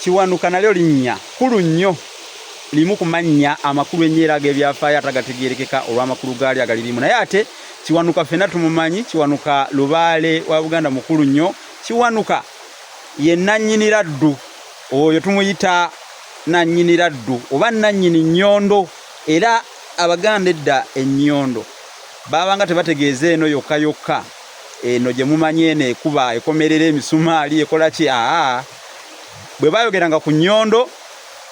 Kiwanuka nalyo linnya kkulu nnyo, limu ku mannya amakulu ennyo era ag'ebyafaayo ate agategeerekeka olw'amakulu gaalyo agalirimu. Naye ate Kiwanuka ffenna tumumanyi. Kiwanuka lubaale wa Buganda mukulu nnyo. Kiwanuka ye nnannyini laddu, oyo tumuyita nnannyini laddu oba nnannyini nnyondo. Era Abaganda edda ennyondo baabanga tebategeeza eno yokka yokka. eno gye mumanyi eno ekuba ekomerera emisumaali ekola ki aa bwe bayogeranga ku nnyondo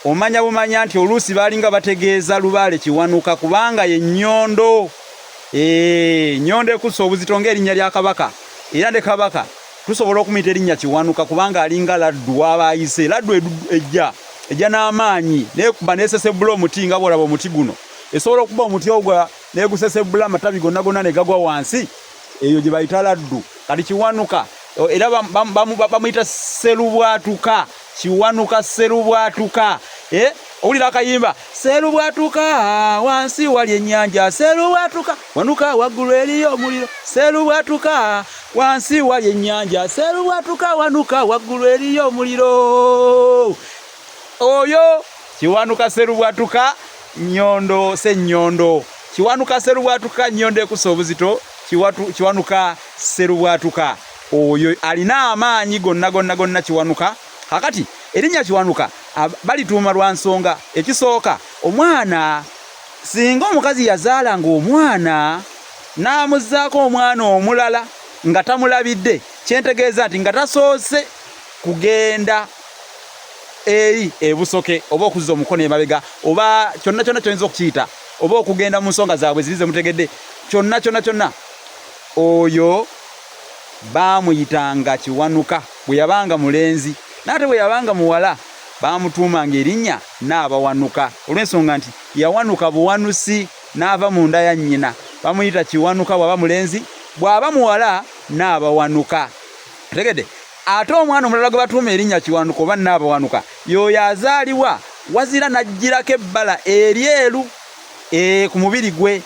omanya bumanya nti oluusi baalinga bategeeza lubaale kiwanuka kubanga ye nnyondo ee nnyondo ekussa obuzito ng'erinnya lya kabaka era ne kabaka tusobola okumuyita erinnya kiwanuka kubanga alinga laddu waba ayise laddu ejja ejja n'amaanyi nekuba nesesebbula omuti nga bwolaba omuti guno esobola okuba omuti ogwa negusesebbula amatabi gonna gonna negagwa wansi eyo gyebayita laddu kati kiwanuka era bamuyita serubwatuka kiwanuka serubwatuka eh? owulira akayimba serubwatuka wansi wali enyanja serubwatuka wanuka waggulu eriyo omuliro serubwatuka wansi wali enyanja serubwatuka wanuka waggulu eriyo omuliro Oyo Kiwanuka Serubwatuka Nyondo Senyondo. Kiwanuka Serubwatuka Nyondo ekusa obuzito. Kiwatu, Kiwanuka Serubwatuka oyo alina amaanyi gonna gonna gonna Kiwanuka. Kakati erinnya Kiwanuka balituuma lwa nsonga. Ekisooka omwana singa omukazi yazaala ng'omwana n'amuzzaako omwana omulala nga tamulabidde kyentegeeza nti nga tasoose kugenda eri ebusoke oba okuzza omukono emabega oba kyonna kyonna kyoyinza okukiyita oba okugenda mu nsonga zaabwe ziri zemutegedde kyonna kyonna kyonna oyo baamuyitanga kiwanuka bwe yabanga mulenzi naate bwe yabanga muwala baamutuumanga erinnya n'abawanuka olw'ensonga nti yawanuka buwanusi n'ava mu nda ya nnyina bamuyita kiwanuka bw'aba mulenzi bw'aba muwala n'abawanuka tegedde Ate omwana omulala gwe batuuma erinnya Kiwanuka oba Nnaabawanuka y'oyo azaalibwa wazira n'ajjirako ebbala eryeru eh, ku mubiri gwe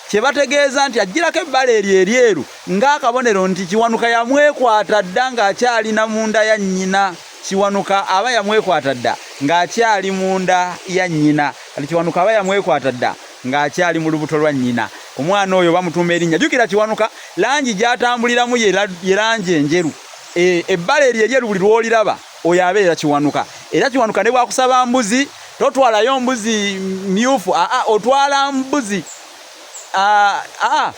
kye bategeeza nti ajjirako ebbala eryo eryeru ng'akabonero nti Kiwanuka yamwekwata dda ng'akyali na munda ya nnyina Kiwanuka aba yamwekwata dda ng'akyali munda ya nnyina kati Kiwanuka aba yamwekwata dda ng'akyali mu lubuto lwa nnyina. Omwana oyo bamutuuma erinnya. Jjukira Kiwanuka langi gy'atambuliramu ye langi enjeru. E, ebbala eryo eryeru buli lw'oliraba oyo abeera Kiwanuka. Era Kiwanuka ne bwakusaba mbuzi totwalayo mbuzi myufu, aa otwala mbuzi aa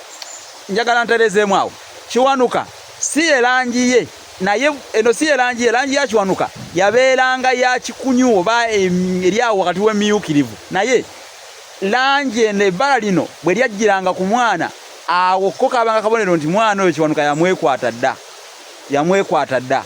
njagala ntereezeemu awo. Kiwanuka si ye langi ye naye eno si ye langi ye langi ya Kiwanuka yabeeranga ya kikunyuwo ba eryawo wakati w'emiyukirivu naye Langi eno, ebbala lino bwe lyajjiranga ku mwana, awo ko kaabanga kabonero nti mwana oyo Kiwanuka yamwekwata dda, yamwekwata dda.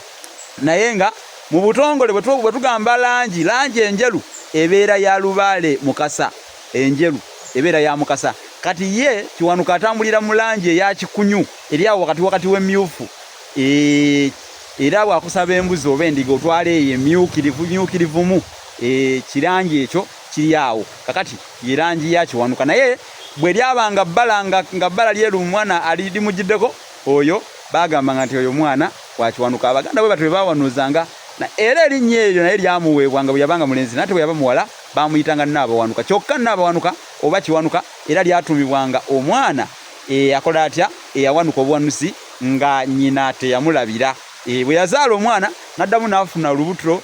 Naye nga mu butongole bwe tugamba langi, langi enjeru ebeera ya Lubaale Mukasa, enjeru ebeera ya Mukasa. Kati ye Kiwanuka atambulira mu langi eya kikunyu, eri awo wakati wakati w'emmyufu. Eeh, era bw'akusaba embuzi oba endiga otwala eyo emmyukirivu, mmyukirivumu, eeh, kirangi ekyo. kiri awo kakati ye langi ya kiwanuka naye bwe lyaba nga bbala nga nga bbala lyeru omwana ali limugiddeko oyo baagambanga nti oyo mwana wa kiwanuka abaganda bwe batyo bwe baawanuuzanga na era erinnya eryo naye lyamuweebwa nga bwe yabanga mulenzi nate bwe yaba muwala baamuyitanga nnaabawanuka kyokka nnaabawanuka oba kiwanuka era lyatuumibwanga omwana eyakola eh, atya eyawanuka eh, obuwanuzi nga nnyina teyamulabira eh, bwe yazaala omwana n'addamu n'afuna olubuto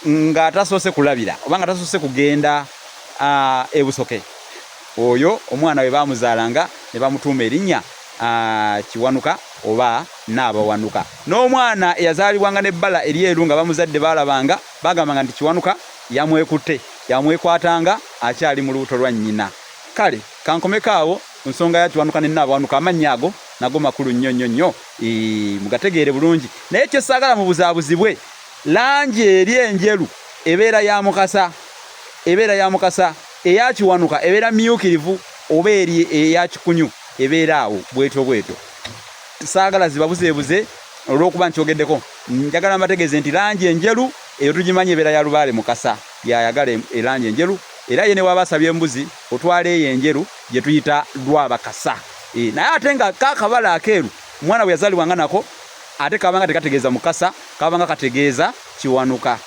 nga atasoose kulabira oba nga tasoose kugenda ebusoke oyo omwana we bamuzaalanga ne bamutuuma erinnya kiwanuka oba naabawanuka n'omwana eyazaalibwanga n'ebbala eryeru nga bamuzadde baalabanga bagambanga nti kiwanuka yamwekutte yamwekwatanga akyali mu lubuto lwa nnyina kale kankomeko awo ku nsonga ya kiwanuka ne naabawanuka amannya ago nago makulu nnyo nnyo nnyo mugategeere bulungi naye kyesaagala mu buzaabuzibwe Langi eri enjeru ebeera ya Mukasa, ebeera ya Mukasa, eya Kiwanuka ebeera mmyuukirivu oba eri eya Kikunyu ebeera awo bwetyo bwetyo. Saagala zibabuzeebuze olw'okuba nkyogeddeko. Njagala mbategeeze nti langi enjeru eyo tugimanyi ebeera ya Lubaale. Mukasa y'ayagala erangi enjeru era ye ne bw'aba asabye embuzi otwala eyo enjeru gye tuyita Lwabakasa. Naye ate nga ka kabala akeeru omwana bwe yazaalibwanga nako ate kabanga tekategeeza mukasa kabanga kategeeza kiwanuka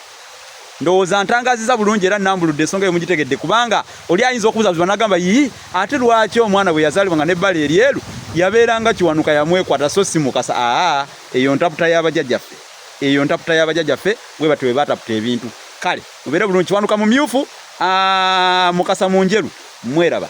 ndowooza ntangaziza bulungi era nambuludde ensonga eyo mugitegedde kubanga oli ayinza okubuzabuziba nagamba yii ate lwaki omwana bwe yazaalibwa nga nebbala eryeru yabeeranga kiwanuka yamwekwata so si mukasa aa eyo ntaputa y'abajajaffe eyo ntaputa y'abajajaffe bwe batyo bwe bataputa ebintu kale mubeere bulungi kiwanuka mumyufu mukasa mu njeru mweraba